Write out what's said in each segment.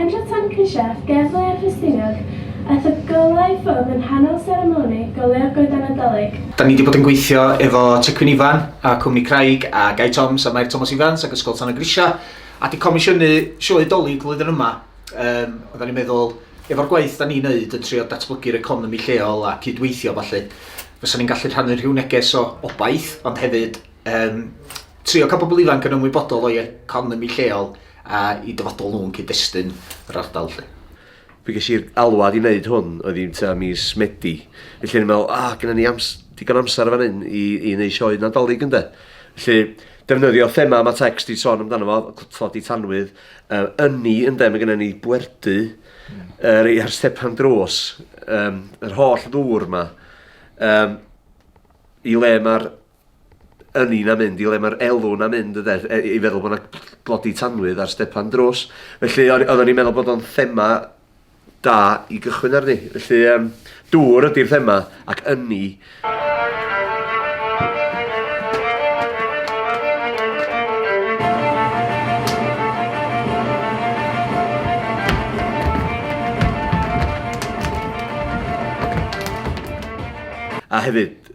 Andrew Tancrysheff, Gerddor a Thrystinydd, a thygyllau ffwm yn nghanol seremoni goleuo'r Goeden Nadolig. Da ni 'di bod yn gweithio efo Tŷ Cwyn Ifan a Cwmni Craig a Gai Toms a Mair Tomos Ifans ac Ysgol Tân y Grisiau a 'di comisiynu sioe Dolig flwyddyn yma. Yym, oeddan ni'n meddwl, efo'r gwaith da ni'n neud yn trio datblygu'r economi lleol a cyd-weithio a ballu, fysan ni'n gallu rhannu rhyw neges o obaith ond hefyd um, trio cael pobl ifanc yn ymwybodol o'i economi lleol a i dyfodol nhw'n cyd-destun yr ardal lle. Fi ges i'r alwad i wneud hwn, oedd i'n ta mis Medi. Felly ni'n meddwl, ah, gyda ni ams digon amser fan hyn i, i wneud sioe nadolig ynda. Felly, defnyddio thema mae text i son amdano fo, tlodi tanwydd, uh, ynni ynda, mae gennym ni bwerdu mm. uh, rei ar stepan dros, um, yr holl ddŵr yma, um, i le mae'r ynni na mynd i le mae'r elw na mynd yde, e, i feddwl bod yna glodi tanwydd ar stepan drws. Felly o'n oeddwn i'n meddwl bod o'n thema da i gychwyn arni. Felly um, dŵr ydy'r thema ac ynni. A hefyd,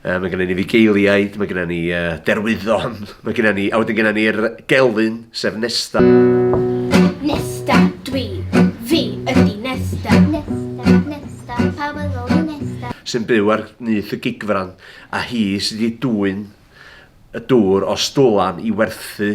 Uh, mae gennym ni fugeiliaid, mae gennym ni uh, derwyddon, mae gennym ni, a wedyn gennym ni'r gelyn, sef Nesta. Nesta, dwi, fi ydi Nesta. Nesta, Nesta, pawb yn ôl Nesta. Sy'n byw ar nyth y gigfran, a hi sydd wedi dwy'n y dŵr o stwlan i werthu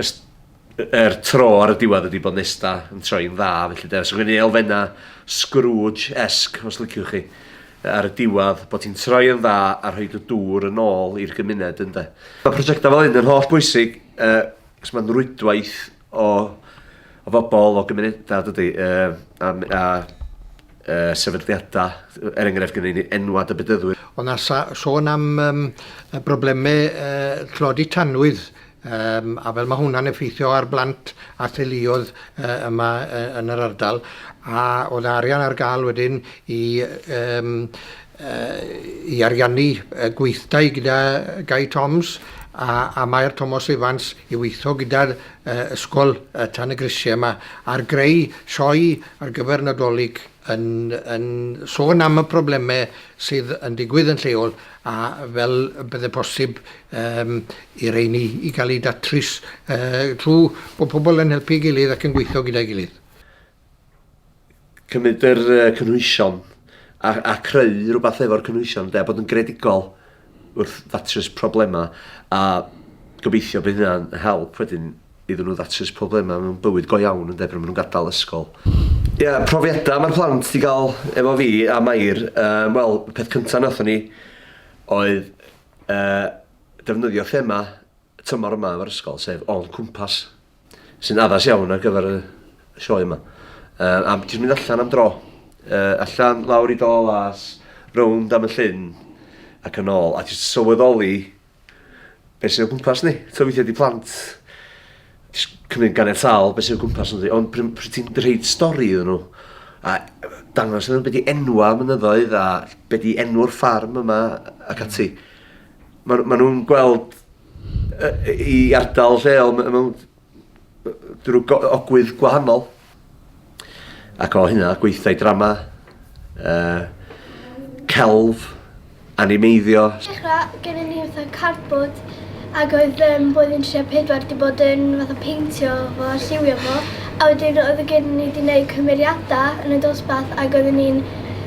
Ers er tro ar y diwedd ydi bod Nesta yn troi'n dda felly de. So gen i elfenna Scrooge-esque os liciwch chi ar y diwedd bod ti'n troi yn dda a rhoid y dŵr yn ôl i'r gymuned ynde. Mae prosiectau fel hyn yn holl bwysig yy cos mae'n rwydwaith o o fobl o gymunedau dydi yy a m- a y sefydliadau, er enghraifft gyda ni enwad y bedyddwyr. Ond na sôn am um, broblemau uh, tlodi tanwydd, um, a fel mae hwnna'n effeithio ar blant a theuluodd uh, yma uh, yn yr ardal, a oedd arian ar gael wedyn i um, uh, i ariannu uh, gweithdai gyda Gai Toms a, a Maer Thomas Evans i weithio gyda'r uh, ysgol uh, tan y grisiau yma ar greu sioe ar gyfer Nadolig yn yn sôn am y problemau sydd yn digwydd yn lleol a fel y bydde posib um, i reini i gael ei datrys uh, trwy bod pobl yn helpu gilydd ac yn gweithio gyda'i gilydd. Cymryd yr uh, cynhwysion a, a creu rhywbeth efo'r cynhwysion, de, bod yn gredigol wrth ddatrys problemau a gobeithio bydd hynna'n help wedyn iddyn nhw ddatrys problemau mewn bywyd go iawn ynde, pan maen nhw'n gadael ysgol. Ie, yeah, profiadau mae'r plant wedi cael efo fi a Mair, um, wel, y peth cyntaf nathon ni oedd uh, defnyddio thema tymor yma efo'r ysgol, sef o'n cwmpas. sy'n addas iawn ar gyfer y sioe yma. Uh, am ti'n mynd allan am dro, uh, allan lawr i dol as, rownd am y llyn ac yn ôl, a ti'n sylweddoli beth sy'n o gwmpas ni. Ti'n weithio di plant, ti'n cymryd ganed sal beth sy'n o gwmpas ni, ond pryd pr ti'n dreid stori iddyn nhw, a dangos iddyn nhw beth di enwa mynyddoedd a beth di enw'r ffarm yma ac ati. Mm Maen ma nhw'n gweld i ardal lleol mewn drwy ogwydd gwahanol. Ac o hynna, gweithdai drama, uh, celf, animeiddio. Dechrau, gennym ni fatha cardboard ac oedd um, blwyddyn 34 di bod yn fatha peintio fo a lliwio fo a wedyn oedd y gennym ni di wneud cymeriadau yn y dosbarth ac oedden ni'n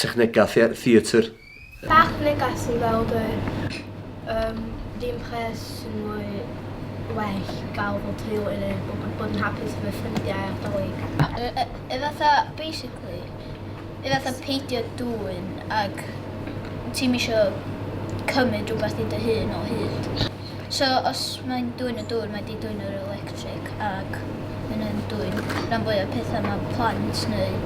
Technegau theatr. Bach neges sy'n gweld y um, dim pres sy'n mwy well gael bod teulu neu bod, bod yn hapus efo ffrindiau a'r dolyg. E fatha, basically, e fatha peidio dŵyn ac ti'n misio cymryd rhywbeth i dy hun o hyd. So os mae'n dwyn y dŵr, mae di dwyn yr electric ac mae'n yn dwyn rhan fwy o pethau mae plant neu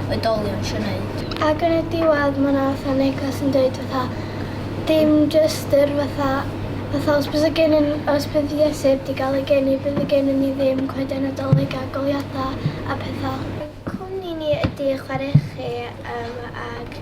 oedolion eisiau gwneud. Ac yn y diwedd mae yna fatha neges yn dweud fatha dim jyst yr fatha fatha os bydd y gen yn os bydd Iesu heb di gael ei geni bydd y gen ni ddim coeden Nadolig a goleuadau a pethau. Cwmni ni ydy chwaraechu um, ac